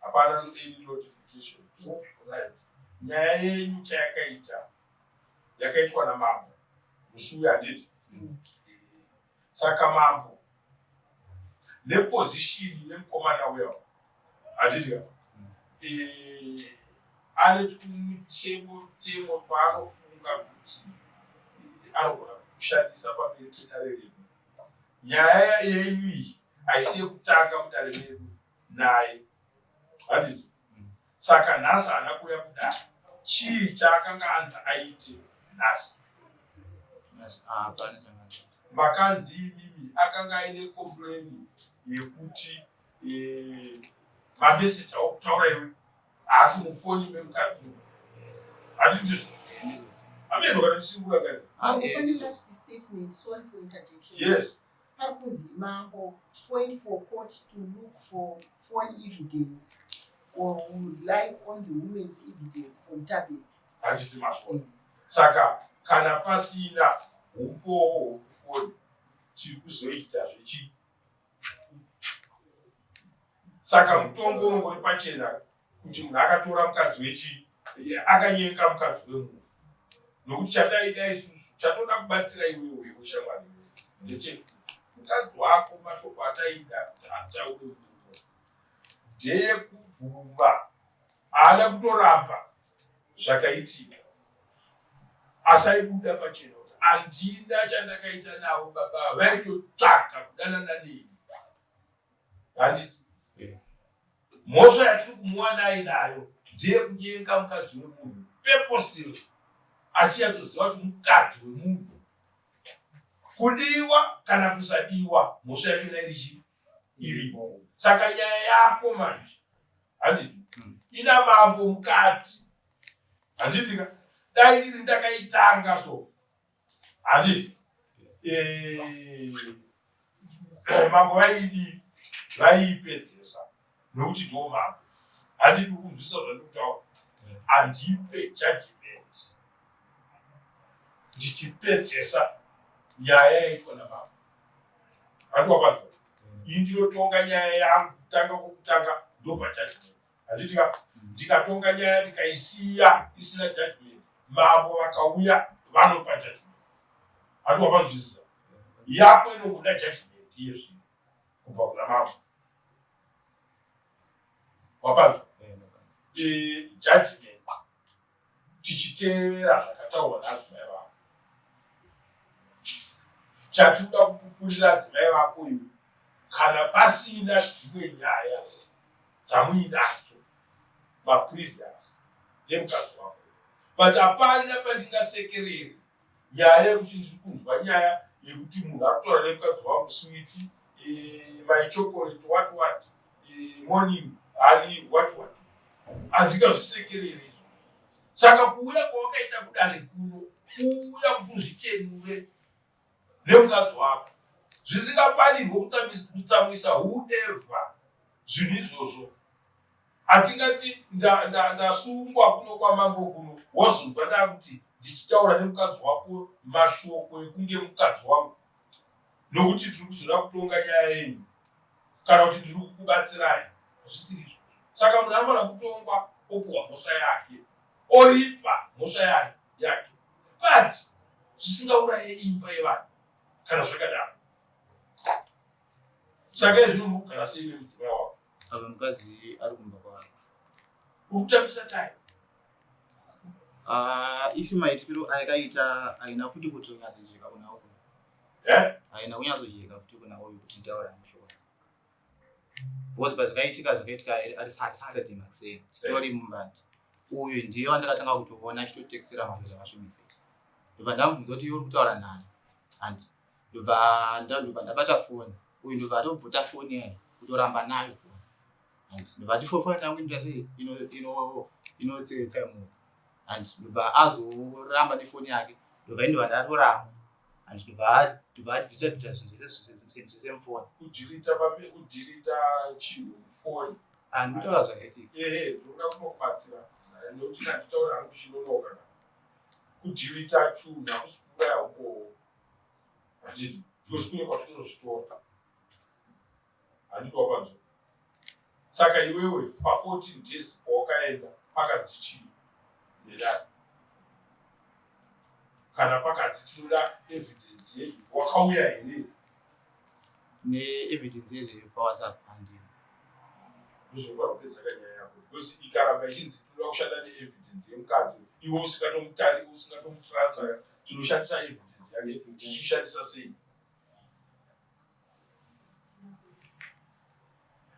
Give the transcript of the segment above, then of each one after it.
hapana any notification right nyaya yenyu chayakaita yakaitwa namambo musi uya handiti mm. saka mambo neposition nemukomana uya handiti ka mm. eh, ane tumutemo temo paanofunga kuti anogona kushandisa pamiri tedare redu nyaya yenyu iyi haisi yekutanga mudare medu naye handiti saka nhasi haana kuuya kudai chii chaakanga anzi aite nhasi ah, makanzi imimi akanga aine kompleni yekuti eh, mameseji aokutaura iwe haasi mufoni memukadzi handindizvo ameno kana ndisinguakani ah, eh. yes Pari kunzi mambo point for court to look for phone evidence or would like on the women's evidence from Tabe. Handiti mashoni. Saka kana pasina upowo hwekufoni chiri kuzoita zvechi saka mutongo unongori pachena kuti munhu akatora mukadzi wechii akanyenga mukadzi wemunhu nokuti chataida isusu chatoda kubatsira iwewe wewe shamwari ndeche mukadzi wako mashoko ataida kuti ataure muno ndeyekubvuma haana kutoramba zvakaitika asaibuda pachena kuti handina chandakaita navo baba vaitotsvaga kudanana neni Handiti eh. mhosva yatiri kumuwanai nayo ndiye kunyenga mukadzi wemunhu peposiro achinyatsoziva kuti mukadzi wemunhu kudiwa kana kusadiwa mhosva yachona iri chii irimo saka nyaya yako manje handiti hmm. ina mambo mukati handitika dai ndiri ndakaitanga so Handi. Eh. Mambo vaidi vaipedzesa nokuti ndiwo mambo. Handi kukunzwisa zvandikutaura. Handipe judgment. Ndichipedzesa nyaya yaitwa namambo. Handi wapanzwa. Ini ndinotonga nyaya yangu kutanga kutanga ndobva judgment. handiti ka ndikatonga nyaya ndikaisiya isina judgment mambo vakauya vanopa judgment handi wavanzwisisa yako inongoda judgment yezvino kubva kuna mambo wapanzwa eh, judgment tichitevera zvakataurwa nadzimai vako chatinoda kupupurira adzimai vako iwe kana pasina dzimwe nyaya dzamuinadzo maprevious nemukadzi wako but hapana pandingasekereri nyaya yekuti ndiri kunzwa nyaya yekuti munhu ari kutaura nemukadzi wangu switi eh, my chocolate what what eh, morning hari what what handingazvisekerere izvo saka kuuya kwawakaita kudare kuno kuuya kuti uzvichenure nemukadzi wako zvisingafanirwe kutsamwisa whoever zvinhu izvozvo hatingati ndasungwa kuno kwamambo kuno wazonzwa ndakuti ndichitaura nemukadzi wako mashoko ekunge mukadzi wangu nokuti tiri kuzoda kutonga nyaya yenyu kana kuti ndiri kukubatsirai hazvisiri izvo saka munhu anofanira kutongwa opuwa mhosva yake oripa mhosva yake yake but zvisingauraye imba yevanhu kana zvakadaro Saka izvi unogara sei nemudzimai wako? Apa mukadzi ari kumba kwaari. Ukutambisa tai? Ah, ishu maitikiro ayakaita aina futi kuti unyatsojeka kuna uyu. Eh? Aina kunyatsojeka futi kuna uyu kuti taura mushoko. Because pazvakaitika zvakaitika ari Saturday makuseni. Titori mumbandi. Uyu ndiye wandakatanga kutoona achitotekesera mazvo zvakasvimisa. Ndobva ndamubvunza kuti iwe uri kutaura nani? Hanti. ndobva ndobva ndabata foni uyu ndobva atobvuta foni yayo kutoramba nayo foni and ndobva tifofona tangu inoita sei inotsetsa imo and ndobva azoramba nefoni yake ndobva indobva ndatoramba and ndobva ndobva adhirita dhirita zvinhu zvese mufoni kudhirita pambe kudhirita chinhu mufoni and kutaura zvakaitika ehe ndoda kunokubatsira nekuti ndanditaura hangu chinonoka kudhirita chunhu hakusi kuuraya ukowo handiti because kune kwatinozvitora handiti wapanzwa saka iwewe pa14 days pawakaenda pakanzi chii nedai kana pakanzi tinoda evidence yedu wakauya here neevidence yezveyo pawhatsapp handii ndozvokuda kupedzaka nyaya yako because ikaramba ichinzi tinoda kushanda neevidence yemukadzi iwe usingatomutariki usingatomutrasta tinoshandisa evidence yake tichishandisa sei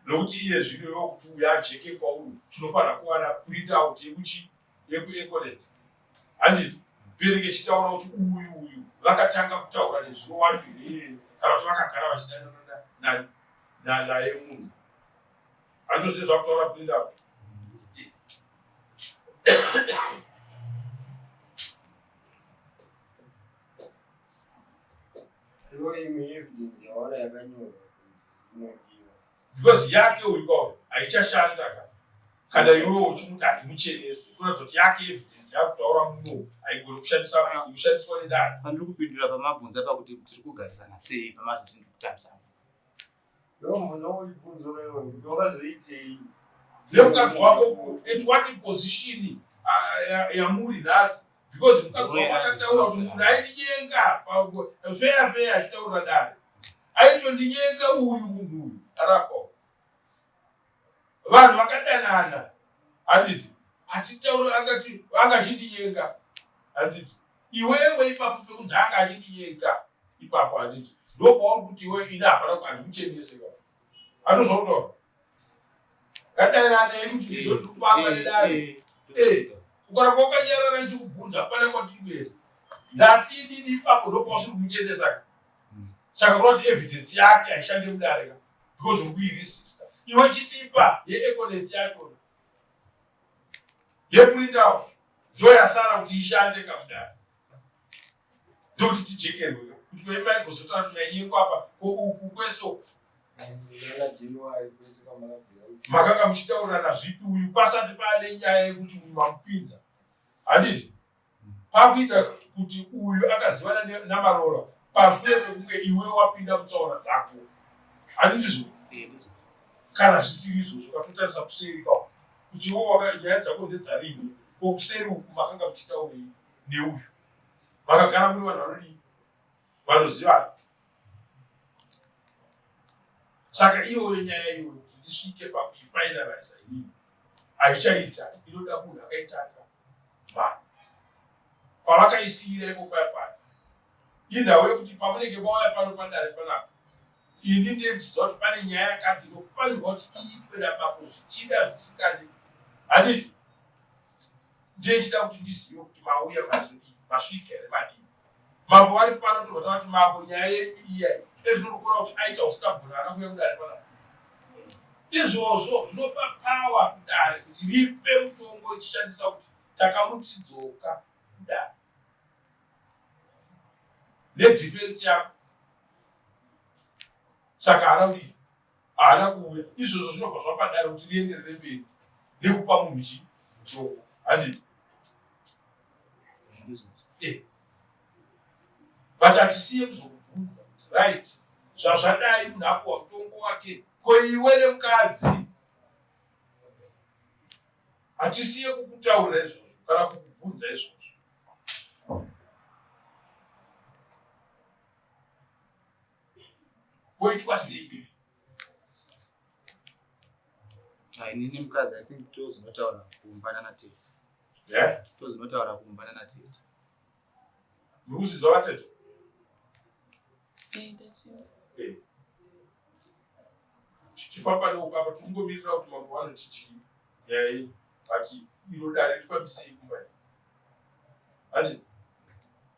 nokuti iye zvino iwe kuti uya ajeke kwauri tinofanira kuwana print out yekuchi yekueconet handi bereke ichitaura kuti uyu uyu vakatanga kutaura nezuro wacho here iyeye kana kuti vakagara vachidanana nalaye munhu andozvine zvakutaura print out because yake uyu kwayo haichashanda ka kana iwewe uchimuti handimuchenese kuratidza kuti yake evidence yakutaura muno haigoni kushandisa kushandiswa nedare pandiri kupindura pamabvunza pakuti tiri kugarisana sei pamazoti ndiri kutambisana nemukadzi wako at what position yamuri nhasi because mukadzi wako akataura kuti munhu aindinyenga feya feya achitaura dare aitondinyenga uyu munhu uyu arapa vanhu vakadanana handiti hatitauri angati anga achindinyenga handiti iwewe ipapo pekunzi anga achindinyenga ipapo handiti ndopauri kuti iwe ini hapana handikuchenese ka anozvautaura kadairane kuti ndizondikubanga nedare ukaramba wakanyarara ndichikubvunza hapana kwatiberi ndati inini ipapo ndopausiri kumuchenesa ka saka kurati evidence yake haishande mudareka because of kuiri sister iwe chitipa yeeconet yakona yekuindawo ndoyasara kuti ishande kamudari ndokuti tijekerwe kuti veimai kuzotara kuti mainyeko apa kouku kweso makanga muchitaurirana zvipi uyu pasati paane nyaya yekuti uyu mamupinza handiti kwakuita kuti uyu akazivana namarora pashure pekunge iwe wapinda mutsaona dzako ani ndizvo kana zvisiri izvozvo katotarisa kuseri ka kuti iwo nyaya dzako ndedzarini ko kuseri uku makanga muchitaurei neuyu makagara muri vanhu vanodii vanozivana saka iyoyo nyaya iyoyo kuti ndisvike pakuifinaliza inini haichaita inoda munhu akaitanga vanhu pavakaisiira ipo paya pano indawo yekuti pamunenge mauya pano padare panapa ini ndiye ndichiziva kuti pane nyaya yakati inofanirwa kuti iitwe nabako zvichida zvisikadi handiti ndiye chida kuti ndizive kuti mauya mazodii masvika here madii Mambo vari pano tobva tavati mambo nyaya yedu iya ezvinokura kuti aita usingagona ana kuya kudare pana izvozvo zvinopa pawa kudare kuti ripe mutongo richishandisa kuti takamutidzoka kudare nedhifensi yako saka haraudi haana kuuya izvozvo zvinobva zvabhadhara kuti rienderere mberi nekupa munhu chi musoko handii eh. but hatisiye kuzokubvunza kuti right zvazvadai munhu apuwa mutongo wake ko iwe nemukadzi hatisiye kukutaurira izvozvo kana kukubvunza izvozvo Poitwa sei? Nini mukadzi, I think tozinotaura kuumbana na tete. Yeah? Tozinotaura kuumbana na tete. Muri kuzidzwa vatete? Eh. Tichifamba neuko apa tingomirira kuti mambo vanoti chii. Yai, but iro dare rifambisei kumba. Handiti?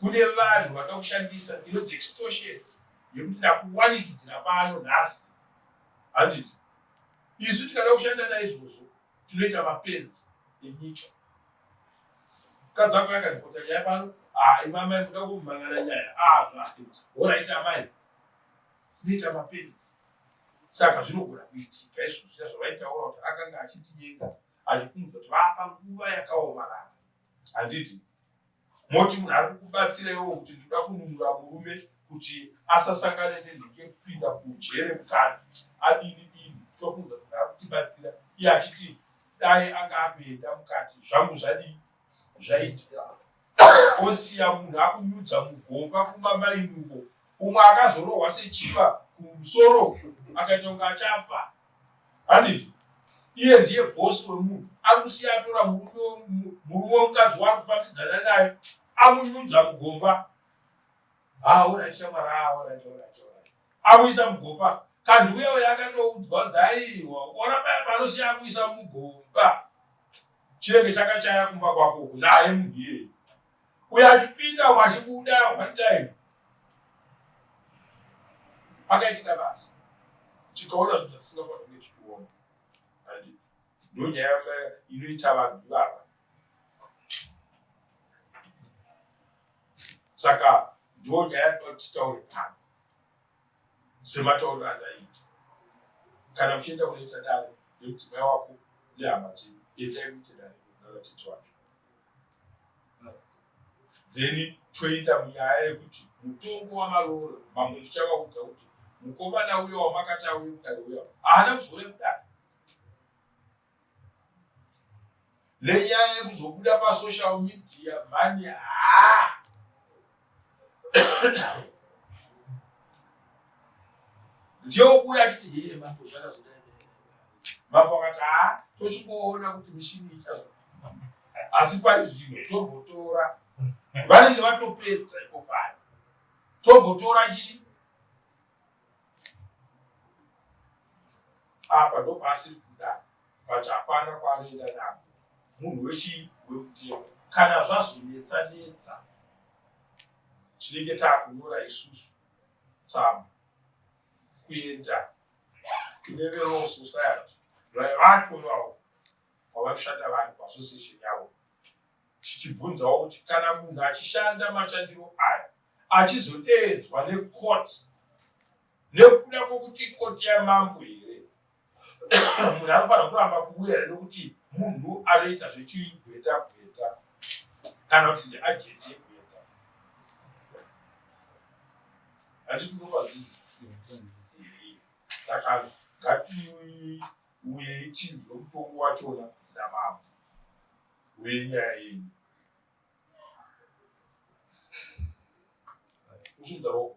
kune vanhu vakakushandisa inonzi extortion yekuti ndakuwanikidzira pano nhasi handiti isu tikada kushanda naizvozvo tinoita mapenzi enyika mukadzi wako yakandipota nyaya pano ah, imamai kuda kumhangana nyaya oraita ah, amai kuita mapenzi saka zvinogona kuitika izvo zviya zvavaitaura kuti akanga achitinyenga achikunza kuti vapa nguva yakaomarara handiti moti munhu ari kukubatsira iwo kuti ndinoda kununura murume kuti asasangane nenheke kupinda kujere mukana adini dini tokunza kuti ari kutibatsira iye achiti dai anga akuenda mukati zvangu zvadii zvaitika osiya munhu akunyudza mugomba kumamainuko umwe akazorohwa sechiva kumusoro akaita kunge achafa handiti iye ndiye bhosi wemunhu ari kusiya atora murume wemukadzi waari kufambidzana naye amunyudza mugomba amuisa mugomba kandi uye uye akatoudzwa kuti aiwa ona paya panosiya akuisa mugomba chinenge chakachaya kumba kwako naye munhu iyeye uyo achipinda umwe achibuda one time pakaitika basa tikaona zvinhu zvatisingakwana kunge tichiona and ndonyaya inoita vanhu ivava saka ndiwo nyaya tinoda titaure pano sematauriro andaita kana muchienda kunoita dare nemudzimai wako nehama dzedu endai kuite dare navatete wake dzeni toita munyaya yekuti mutongo wamaroora mamwe ndichavaudza kuti mukomana uyo wamakati auye kudare uya haana kuzouya kudare nenyaya yekuzobuda pasocial media mhani haa ndiokuya achiti hee mambo zvakazodai mambo akati ha tochimboona kuti mishini ichazo asi pari zvino tombotora vanenge vatopedza iko pari tombotora chii apa ndopaasiri kuda but hapana kwaanoenda navo munhu wechii wekutema kana zvazonetsa netsa tinenge takunyora isusu tsamba kuenda kune velaw society vaivato vavo kwavanoshanda vanhu paassociation yavo tichibvunzawo kuti kana munhu achishanda mashandiro aya achizodeedzwa necourt nekuda kwokuti ikoti yamambo here munhu anofanira kuramba kuuya here nekuti munhu anoita zvechigweta gweta kana kuti ndiajeti yegweta handitinokwazvizii saka ngatiuye ichinzwe mutongo wachona namambo wenyaya yenyu usudaro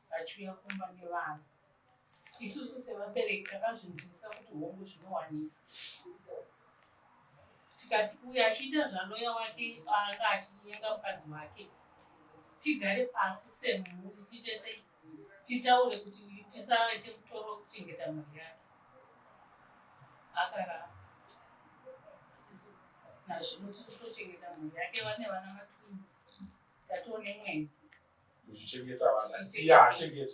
vachiuya kumba nevana isusu sevabereki takazvinzwisisa kuti hongu zvinowanika tikati uyo achiita zvaloya wake anga achinyenga mukadzi wake tigare pasi semhuri tiite sei titaure kuti tisaite mutoro wekuchengeta mhuri yake akaramba nazvino tiri kutochengeta mhuri yake vane vana matwins tatoo nemwedzi Kuchengeta vana. Iya achengeta.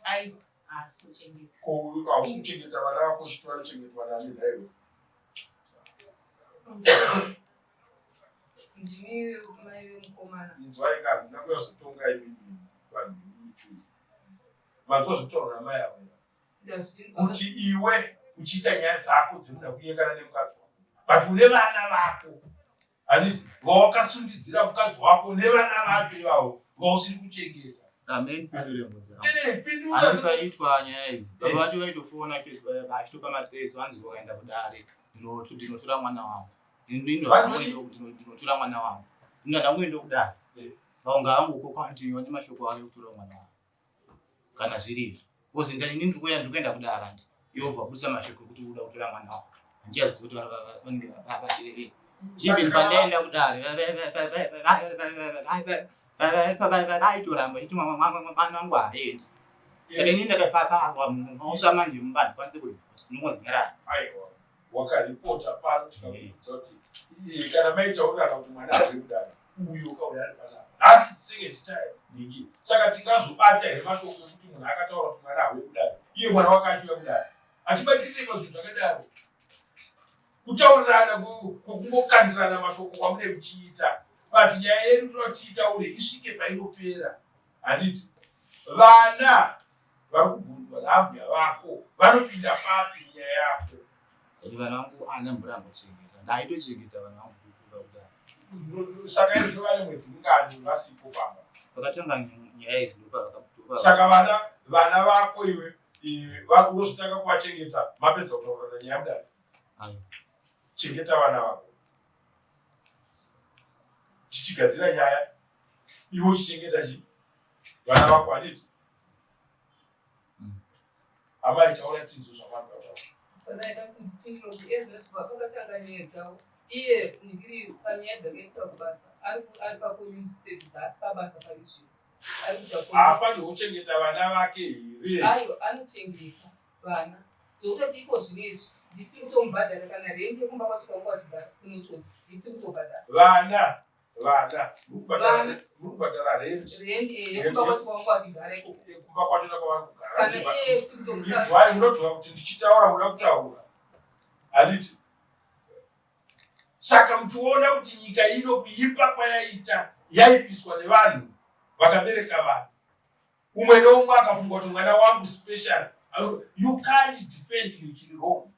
Aiwa, haasi kuchengeta. Ko hausi kuchengeta vana vako zviti vanochengetwa nani nhaiwe? Ndimi mai vemukomana. Inzwai ka, handina kuyazotonga imimi vanhu muchuu. Vanzwa zvitaura mai avo. kuti iwe uchiita nyaya dzako dzinoda kunyengana nemukadzi wako but une vana vako handiti vawakasundidzira mukadzi wako nevana vake ivavo vausiri kuchengeta aitwa nyaya idzi baba vacho vaitofona achitopa mateso vanzi vakaenda kudare ndinotora mwana wangu ndinotora mwana wangu ndinoda kuenda kudare saka unga angu uko kwandiwa nemashoko ayo kutora mwana wangu kana zviri izvi kozi ndani ini ndiri kuenda ndiri kuenda kudara handi iwe ubva busa mashoko ekuti uda kutora mwana wako handichazivi kuti vanenge vabatirevei even pandaenda kudare vaitoramba chiti mwana wangu haaendi saka ini ndakapaparwa mumosva manje mumba handikwanise kunozinyarara wakaripota pano tikakuudza kuti kana maitaurana kuti mwana ari kudaro uyo ukauya ari panapa nhasi second time ningi saka tingazobata here mashoko ekuti munhu akataura kuti mwana auye kudaro iye mwana wakacho uya kudaro achibatirire pazvinhu zvakadaro kutaurirana kungokandirana mashoko kwamune muchiita but nyaya yedu tinotiitaure isvike painopera handiti vana vari kubvunzwa naambuya vako vanopinda papi nyaya yako kuti vana vangu ana mvura ambochengeta ndaitochengeta vana vangu kukuda kudai saka izvo vane mwedzi mungani vasipo pamba vakatanga nyaya idzi ndopavakabuda saka vana vana vako iwe vakuzotanga kuvachengeta mapedza kutaura nanyaya mudari chengeta vana vako tichigadzira nyaya iwe uchichengeta chii vana vako handiti amai taura tinzwe zvamagataura panaida kundipindirozi ezvati vakakatanga nyaya dzavo iye ndiri panyaya dzakaitwa kubasa ari pacommunity service asi pabasa pari zvino ari kuda haafanirwa kuchengeta vana vake here aiwa anochengeta vana zvokutoti iko zvino izvi ndisiri kutomubhadhara kana rendi yekumba kwacho kwanga kwachigara kunoto ndisiri kutobhadhara vana vana murikubhadhara rendikumba kwatona kwavarikugarai munoziva kuti ndichitaura muda kutaura handiti saka muchiona kuti nyika ino kuipa kwayaita yaipiswa nevanhu vakabereka vanhu umwe neumwe akafunga kuti mwana wangu special you can't defend you chiri wrong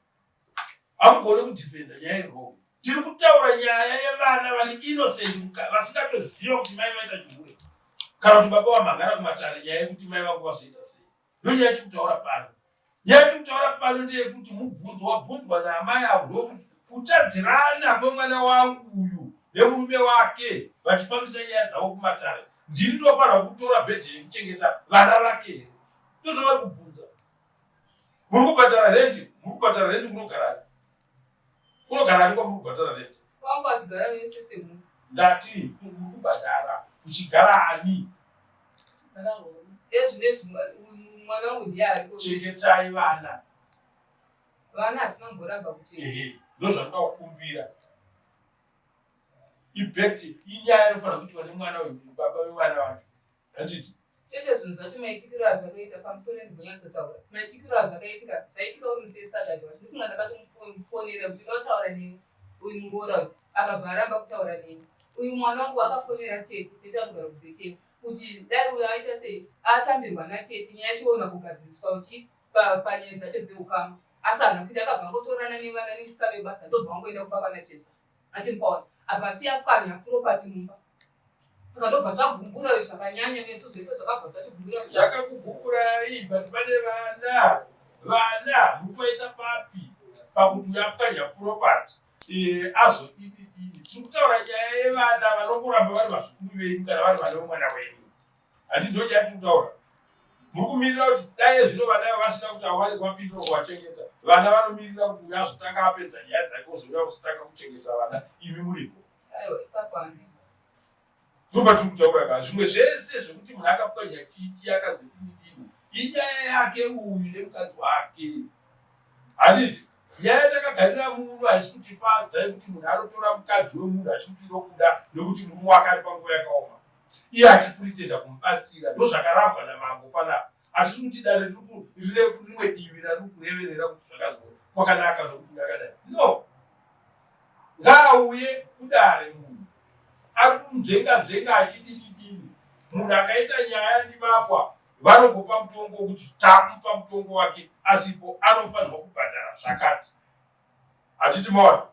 hamugone kudhipenda nyaya iroo tiri kutaura nyaya yevana vane innocent vasingatoziva kuti mai vaita chihure kana kuti baba vamhangara kumatare nyaya yekuti mai vangu vazoita sei ndonyaya yatiri kutaura pano nyaya yatiri kutaura pano ndeyekuti mubvunzo wabvunzwa naamai avo ndokuti kutadzirana kwemwana wangu uyu nemurume wake vachifambisa nyaya dzavo kumatare ndini ndofanira kutora bhedhe yekuchengeta vana vake ndozvavari kubvunza Muri kubhadhara rent, muri kubhadhara rent kunogara ani? Kunogara ani kwamuri kubhadhara rent? Kwako achigara vese semuri. Ndati muri kubhadhara kuchigara ani? Gara horo. Ezvinezvi mwana wangu ndiye ariko. Chengetai vana. Vana hatina kumboramba kuchengeta. Ehe, ndozvandinoda kukumbira. Ibheki inyaya inofanira kuitwa nemwana webaba wevana vangu. Handiti? Chete zvinhu zvacho maitikiro azvakaita pamusoro ndibonyatsotaura. Maitikiro azvakaitika zvaitika uri musei Saturday wacho. Ndofunga ndakatomufonera kuti ndotaura neni uyu muroora uyu akabva aramba kutaura neni. Uyu mwana wangu akafonera tete tete azogara kuzeteni kuti dai uyo aita sei atambirwa natete nyaya chiona kugadziriswa uchi panyaya dzacho dzeukama asi hana kuita akabva angotorana nevana nemusika vebasa ndobva angoenda kumba kwana jesu Ati Paul abva asiya pwanya property mumba. Saka ndobva zvagumbura uyu zvakanyanya nesu zvese zvakabva zvatigumbura. Zvakakugumburayi but pane vana vana mukuvaisa papi pakuti uyu apwanya property eh, azodidididi tiri kutaura nyaya yevana vanongoramba vari vazukuru venyu kana vari vana vemwana wenyu handi ndochati kutaura muri kumirira kuti dai zvino vana ivo vasina kuti awari kwapindira kuwachengeta vana vanomirira kuti uya azotanga apedza nyaya dzake ozouya kuzotanga kuchengeta vana imi muripo tobatiri kutaura ka zvimwe zvese zvekuti munhu akapuka nyakiki akazodinidini inyaya yake uyu nemukadzi wake handiti nyaya yatakagarira muno haisi kutifadza yekuti munhu anotora mukadzi wemunhu achimuti ndokuda nekuti murume wake ari panguva yakaoma iye achipritenda kumubatsira ndozvakarambwa namambo panapa hatisi kuti dare rine rimwe divi rari kureverera kuti zvakazo kwakanaka nokuti ngakadai no ngaauye kudare munhu ari kumudzenga dzenga achidididini munhu akaita nyaya ndivakwa vanongopa mutongo wokuti takupa mutongo wake asipo anofanirwa kubhadhara zvakati hatiti maona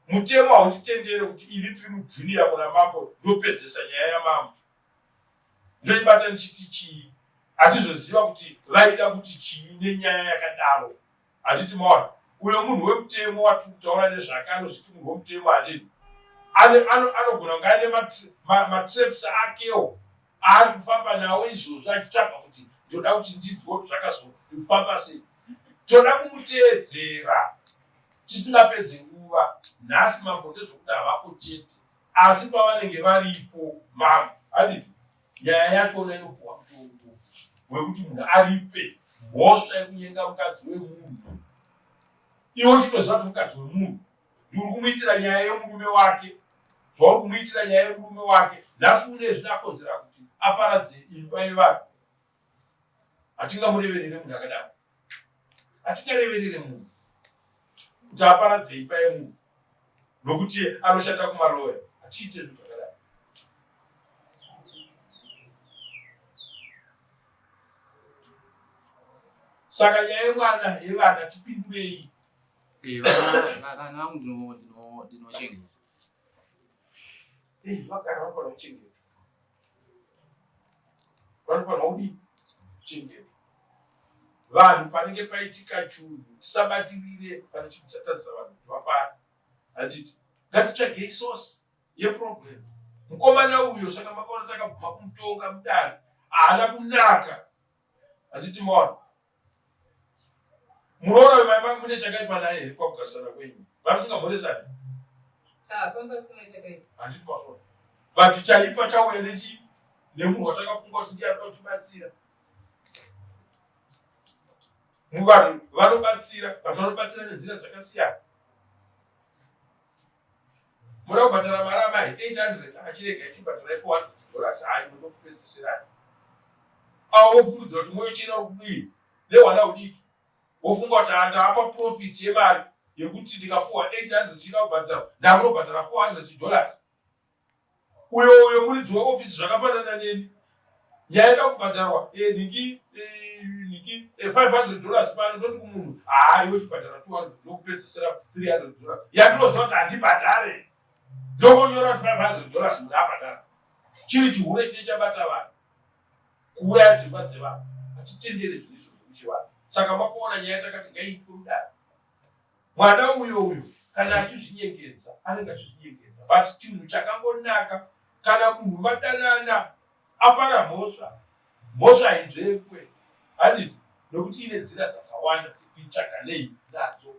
mutemo hautitendere kuti ini tiri mujuniya kuna mambo ndopedzesa nyaya yamambo ndoibata ndichiti chii hatizoziva kuti vaida kuti chii nenyaya yakadaro handiti maona uyo munhu wemutemo watiri kutaura nezvake anozviti munhu wemutemo handini anogona kunge aine matreps akewo aari kufamba nawo izvozvo achitsvaga kuti ndoda kuti ndidzwe kuti zvakazofamba sei toda kumuteedzera Tisingapedze nguva nhasi mambo ndezvokuti havako chete asi pavanenge varipo mambo aditi nyaya yachona inopuwa mutongo wekuti munhu aripe mhosva yekunyenga mukadzi wemunhu iwe uchitoziva kuti mukadzi wemunhu ndiuri kumuitira nyaya yemurume wake zvauri kumuitira nyaya yemurume wake nhasi une zvinakonzera kuti aparadze imba yevanhu hatingamureverere munhu akadaro hatinyareverere munhu kuti aparadzei paye munhu nokuti anoshanda kumaroya hatiite zvinhu zvakadai saka nyaya yemwana yevana tipindurei eh, vana vangu ndinochengeta eh, vagara vakona kuchengeta vanofanirwa kudii kuchengetwa vanhu panenge paitika chunhu tisabatirire pane chinhu chatadzisa vanhu kuti vafare handiti ngatitsvagei source yeproblem mukomana uyo saka makaona takabvuma kumutonga mudare haana kunaka handiti maona muroora wemai vangu mune chakaipa naye here kwakugarisana kwenyu vamusingamhoresani ah, but chaipa chauya nechi nemunhu watakafunga kuti ndiye anoda kutibatsira muvanhu vanobatsira vanhu vanobatsira nenzira dzakasiyana Mura kubhadhara mari amai 800 achirega ichibhadhara ife 1 dollars hayi muno kupedzisirani. Awo wofungudzira kuti moyo china ukudii nehwana hudiki wofunga kuti handaapa profit yemari yekuti ndikapuwa 800 china kubhadhara ndakunobhadhara 400 dollars uyo uyo muridzi weofisi zvakafanana neni nyaya ida kubhadharwa eh, niki eh, niki 500 eh, dollars pano ndoti kumunhu haa iwe chibhadhara 200 ndokupedzisira 300 dollars yandinoziva kuti handibhadhare ndokonyora kuti 500 dollars munhu abhadhara chiri chihure chine chabata vanhu kuuraya dzimba dzevanhu hatitendere zvinizvo zvekuchivanhu saka makuona nyaya takati ngaitwe mudaro Mwana uyo uyo kana achizvinyengedza anenge achizvinyengedza but chinhu chakangonaka kana munhu madanana apara mhosva mhosva inzvekwe handiti nokuti ine nzira dzakawanda dzekuitsvaga nei nadzo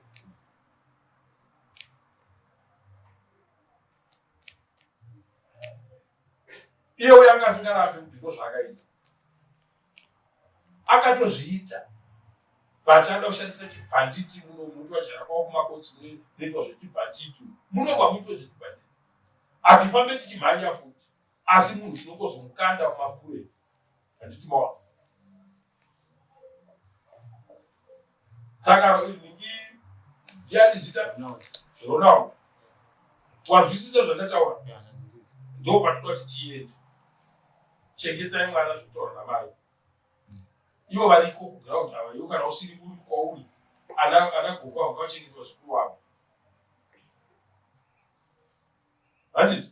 iye uyo anga asingarapi kuti ndo zvaakaita akatozviita vachada kushandisa chibhanditi muno munoitwa jara kwavo kumakotsi munoitwa zvechibhanditi munobva muitwa zvechibhanditi hatifambe tichimhanya futi asi munhu tinongozomukanda mumabure handiti mawa Takaro iri ndi ndiyani zita? Ronald. Wanzwisisa zvandataura? Ndoo patinoda kuti tiende. Chengetai mwana zvitaura namai. Ivo variko kuground ava, ivo kana usiri kuri kwauri, ana ana gogo avo kwachengetwa zvikuru avo. Handiti?